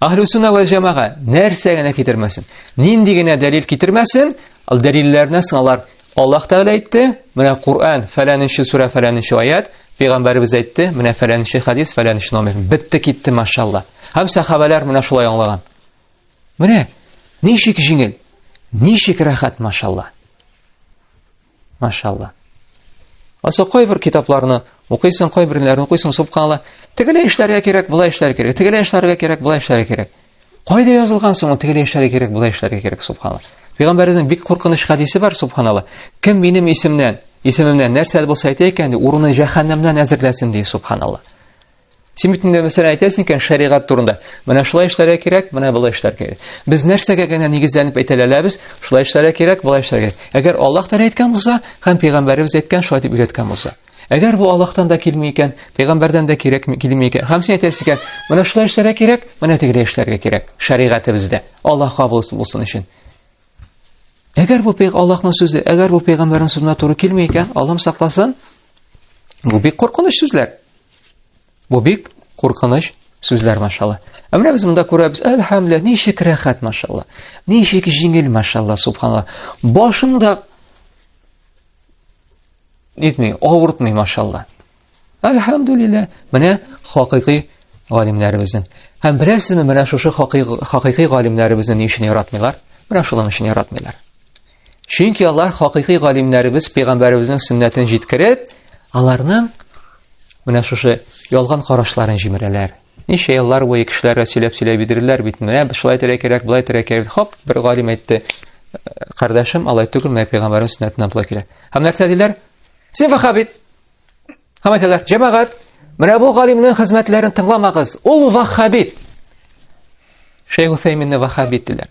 Ахлюсуна вә җәмәга нәрсә генә китермәсен, нинди генә дәлил китермәсен, ал дәлилләрне сыналар. Аллаһ Тәгалә әйтте, менә Коран, фәләненче сүрә, фәләненче аят, пәйгамбәребез әйтте, менә фәләненче хадис, фәләненче номер. Битте китте, машалла. Һәм сахабалар менә шулай аңлаган. Менә ничек җиңел, ничек рәхәт, машалла. Машалла. Аса кайбер китапларны укыйсың, кайберләрне укыйсың, субханалла. Тегеле эшләргә кирәк, була эшләргә кирәк. Тегеле эшләргә кирәк, була эшләргә кирәк. Кайда язылган соң, тегеле эшләргә кирәк, була эшләргә кирәк, субханалла. Пәйгамбәрнең бик куркыныч хадисе бар, субханалла. Кем минем исемнән, исемемнән нәрсә булса әйтә икән, урыны җәһәннәмнән әзерләсен ди, субханалла. Син бит инде мәсәлән әйтәсең икән шәригать турында. Менә шулай эшләргә кирәк, менә болай эшләргә кирәк. Без нәрсәгә генә нигезләнеп әйтәләләбез? Шулай эшләргә кирәк, болай эшләргә кирәк. Әгәр Аллаһ Тәгалә әйткән булса, һәм пәйгамбәребез әйткән, шулай дип өйрәткән булса. Әгәр бу Аллаһтан да килми икән, пәйгамбәрдән дә кирәк килми икән. Һәм син әйтәсең икән, менә шулай эшләргә кирәк, менә тегеләй эшләргә кирәк. Шәригатебездә Аллаһ кабул булсын өчен. Әгәр бу пәйгамбәр Аллаһның сүзе, әгәр бу пәйгамбәрнең сүзенә туры килми икән, Аллаһ сакласын. Бу бик куркыныч сүзләр. Бу бик куркыныч сүзләр машалла. Ә менә без монда күрәбез, әлхәмдулилла, ничек рәхәт машалла. Ничек җиңел машалла, субханалла. Башында нитми, авыртмый машалла. Әлхәмдулилла, менә хакыйкый галимнәребезнең. Һәм беләсезме, менә шушы хакыйкый галимнәребезне ни өчен яратмыйлар? Менә шулар өчен яратмыйлар. Чөнки алар хакыйкый галимнәребез пәйгамбәребезнең сөннәтен җиткереп, аларның менә шушы ялган карашларын җимерәләр. Ничә еллар буе кешеләргә сөйләп сөйләп бирделәр бит, менә шулай итәргә кирәк, болай итәргә кирәк. Хак бер галим әйтте, «Э, кардәшем, алай түгел, менә пәйгамбәрнең сөннәтенә болай килә. Һәм нәрсә диләр? Син вахабит. Һәм әйтәләр, җәмәгать, менә бу галимнең хезмәтләрен тыңламагыз. Ул вахабит. Шейх Усайминне вахабит диләр.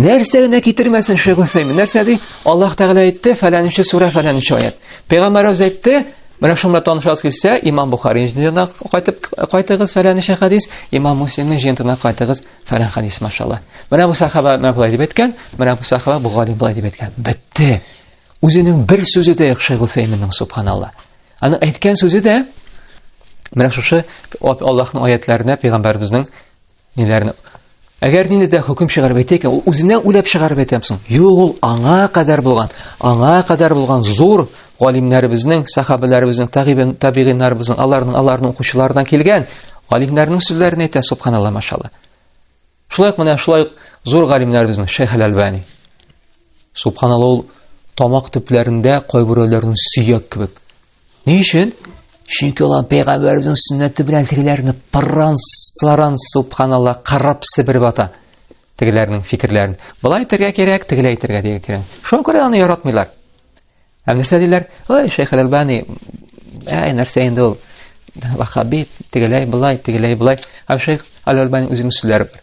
Нәрсә генә китермәсен Шейх Усаймин. Нәрсә ди? Аллаһ Тәгалә әйтте, фәләнче сүрә, фәләнче аят. Пәйгамбәр үзе әйтте, менә шуңа танышасыз килсә, Имам Бухари җиннән кайтып кайтыгыз фәләнче хадис, Имам Муслимның җиннән кайтыгыз фәлән хадис, машалла. Менә бу сахаба менә булай дип әйткән, менә бу сахаба Бухари булай дип әйткән. Бетте. Үзенең бер сүзе дә юк Шейх Усайминның, субханалла. Аны әйткән сүзе дә менә шушы Аллаһның аятларына, пәйгамбәребезнең Ниләрне Әгәр нинди дә хөкем чыгарып әйтә икән, ул үзенә уйлап чыгарып әйтәм соң. Юк, ул аңа кадәр булган, аңа кадәр булган зур галимнәребезнең, сахабаларыбызның, тагибин, табигиннарыбызның, аларның, аларның укучылардан килгән галимнәрнең сүзләрен әйтә, субханалла, машалла. Шулай менә шулай зур галимнәребезнең Шейх Аль-Альбани. Субханалла, ул тамак төпләрендә кайберәүләрнең сөяк кебек, Ни өчен? Чөнки алар пәйгамбәребезнең сөннәте белән тегеләрне пырран саран субханалла карап себереп ата. Тегеләрнең фикерләрен. Былай әйтергә кирәк, тегеләй әйтергә дигән кирәк. Шуңа күрә аны яратмыйлар. Һәм нәрсә диләр? Ой, Шейх Албани, әй, нәрсә инде ул? Вахаби, тегеләй, былай, тегеләй, былай. Һәм Шейх Албани үзенең сүзләре бар.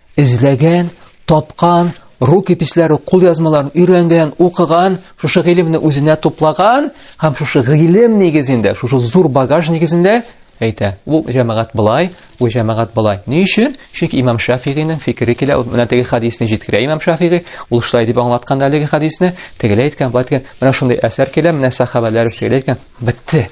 Эзләгән, тапкан, рукописләре, кулъязмаларын өйрәнгән, укыган, шушы гыйлемне үзенә туплаган һәм шушы гыйлем нигезендә, шушы зур багаж нигезендә әйтә. Ул җәмәгать былай, бу җәмәгать былай. Ни өчен? Чөнки имам Шафигыйның фикере килә, ул менә теге хадисны җиткерә имам Шафигый, ул шулай дип аңлаткан әлеге хадисны, тегеләй әйткән, былай әйткән, менә шундый әсәр килә, менә сахабәләр шулай әйткән, бетте.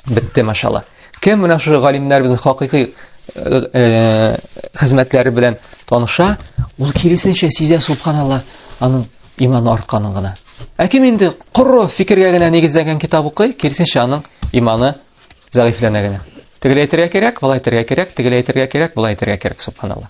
Бетте, машалла. Кем менә шул галимнәр безнең хакыйкый э, э, хезмәтләре белән таныша, ул киресенчә сизә субханалла, аның иманы артканын гына. Ә кем инде коры фикергә генә нигезләнгән китап укый, киресенчә аның иманы зәгыйфләнә генә. Тегеләйтергә кирәк, былай әйтергә кирәк, тегеләйтергә кирәк, былай әйтергә кирәк, субханалла.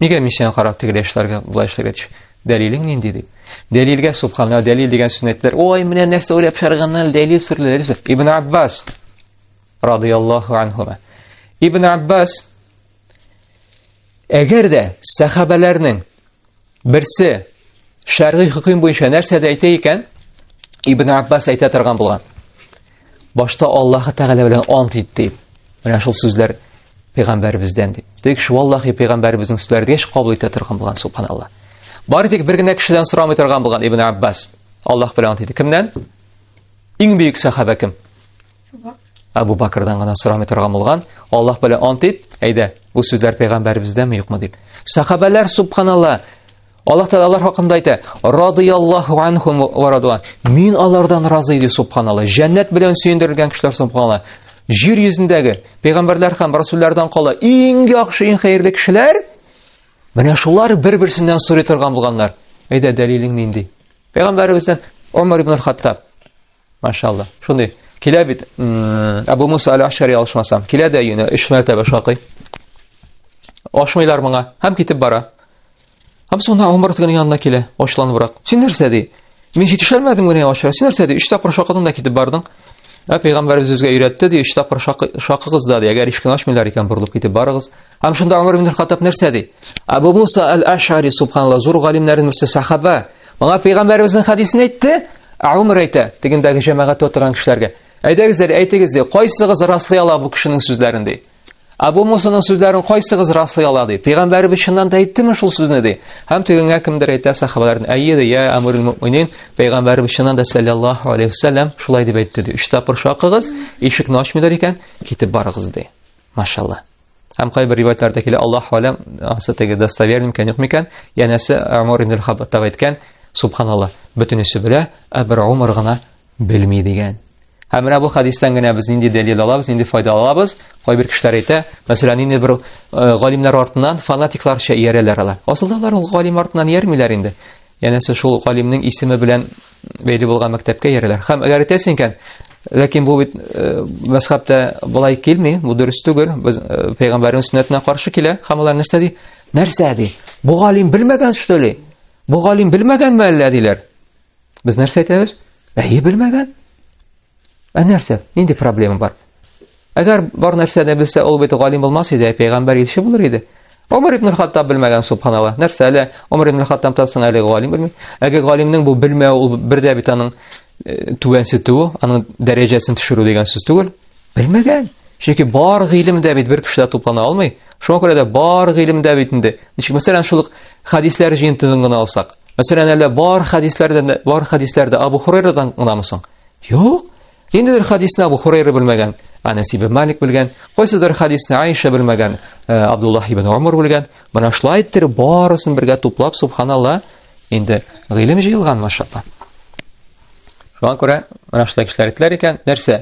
Нигә мин сиңа карап тегеләй эшләргә, болай эшләргә тиеш? Дәлилең нинди дип. Дәлилгә субханалла, дәлил дигән сүзне әйттеләр. Ой, менә нәрсә уйлап чарганнар, дәлил сүрләре. Ибн Аббас радияллаһу анһума. Ибн Аббас әгәр дә сахабаларның берсе шәргый хөкем буенча нәрсә дә әйтә икән, Ибн Аббас әйтә торган булган. башта Аллаһы Тәгалә белән ант итте. Менә шул сүзләр пәйгамбәребездән дип. Тик шул Аллаһы пәйгамбәребезнең сүзләрен еш кабул итә торган булган субханалла. Бары тик бер генә кешедән сорамый торган булган Ибн Аббас. Аллаһ белән ант итте. Кемнән? Иң бөек сахаба кем? Абу Бакрдан гына сорамый торган булган. Аллаһ белән ант ит. Әйдә, бу сүзләр пәйгамбәребездәме юкмы дип. Сахабалар субханалла Аллаһ Тәгалә алар хакында әйтә: "Радияллаһу анхум ва радуан". Мин алардан разый ди субханалла. Җәннәт белән сөендерелгән кешеләр субханалла. Җир йөзендәге пәйгамбәрләр һәм расуллардан кала иң яхшы, иң хәерле кешеләр менә шулар бер-берсеннән сорый торган булганнар. Әйдә, дәлилең нинди? Пәйгамбәребездән Умар ибн хаттаб Машалла. Шундый килә бит Абу Муса аль-Ашари алышмасам. Килә дә юнә 3 мәртәбә шакый. Ашмыйлар моңа. Һәм китеп бара. Һәм соңында Умар тегенең янына килә, ачуланыбрак. Син нәрсә ди? Мин җитешәлмәдем генә ачыра. Син нәрсә ди? Өч тапкыр шакыдың да китеп бардың. Ә пәйгамбәрбез үзгә өйрәтте ди, өч тапкыр шакыгыз да ди, әгәр ишкне ачмыйлар икән, борылып китеп барыгыз. Һәм шунда Умар ибн Хаттаб нәрсә ди? Абу Муса аль-Ашари субханалла зур галимнәрнең берсе сахаба. Моңа пәйгамбәрбезнең хадисен әйтте. Ә Умар әйтә, тегендәге җәмәгатьтә утырган кешеләргә. Әйдәгез, әйтегез ди, кайсыгыз раслый ала бу кешенең сүзләрен ди? Абу Мусаның сүзләрен кайсыгыз раслый ала ди? Пәйгамбәребез чыннан да әйттеме шул сүзне ди? Һәм тегенгә кемдер әйтә сахабалардан, әйе ди, я Амирул Муъминин, пәйгамбәребез чыннан да саллаллаһу алейхи вассалам шулай дип әйтте ди. Өч тапкыр шакыгыз, ишекне ачмыйлар икән, китеп барыгыз ди. Машалла. Һәм кайбер риваятларда килә, Аллаһ алам, ансы теге достоверный микән, юк микән? Янәсе Амир ибн Хаббаттаб әйткән, субханалла, бөтенесе белә, ә бер Умар гына белми дигән. Һәм менә бу хәдистән генә без нинди дәлил алабыз, нинди файда алабыз? Кайбер кешеләр әйтә, мәсәлән, инде бер э, галимнәр артыннан фанатикларча иярәләр алар. Асылда алар ул галим артыннан иярмиләр инде. Янәсе шул галимнең исеме белән бәйле булган мәктәпкә иярәләр. Һәм әгәр әйтәсең икән, ләкин бу бит э, мәсхәбтә былай килми, бу дөрес түгел. Без э, пәйгамбәрнең сөннәтенә каршы килә. Һәм алар нәрсә ди? Нәрсә ди? Бу галим белмәгән что ли? Бу галим белмәгәнме әллә диләр? Без нәрсә әйтәбез? Әйе, белмәгән. Ә нәрсә? Нинди проблема бар? Әгәр бар нәрсә дә белсә, ул бит галим булмас иде, ә пәйгамбәр илче булыр иде. Омар ибн Хаттаб белмәгән субханалла. Нәрсә әле Омар ибн Хаттаб тасын әле галим белми. Әгәр галимнең бу белмәве ул бердә бит аның э, түбәнсетүе, аның дәрәҗәсен төшерү дигән сүз түгел. Белмәгән. Чөнки бар гыйлем дә бит бер кешедә туплана алмый. Шуңа күрә дә бар гыйлем дә бит инде. Ничек, мәсәлән, шул ук хәдисләр җыентыгын гына алсак. Мәсәлән, әллә бар хәдисләрдән дә, бар хәдисләрдә Абу Хурайрадан гынамы соң? Юк. Ниндидер хәдисне Абу Хурайра белмәгән, Анас ибн Малик белгән, кайсыдыр хәдисне Айша белмәгән, э, Абдуллах ибн Умар белгән. Менә шулай иттереп барысын бергә туплап, субханалла, Инде гыйлем җыелган, машалла. Шуңа күрә менә шулай кешеләр әйтәләр икән, нәрсә?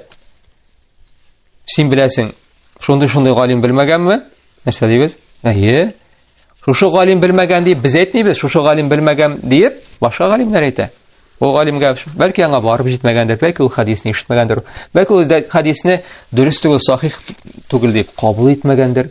Син беләсең, шундый-шундый галим белмәгәнме? Нәрсә дибез? Әйе. Шушы галим белмәгән дип без әйтмибез, шушы галим белмәгән дип башка галимнәр әйтә. Ул галимгә бәлки аңа барып җитмәгәндер, бәлки ул хадисны ишетмәгәндер, бәлки ул хадисны дөрес түгел, сахих түгел дип кабул итмәгәндер.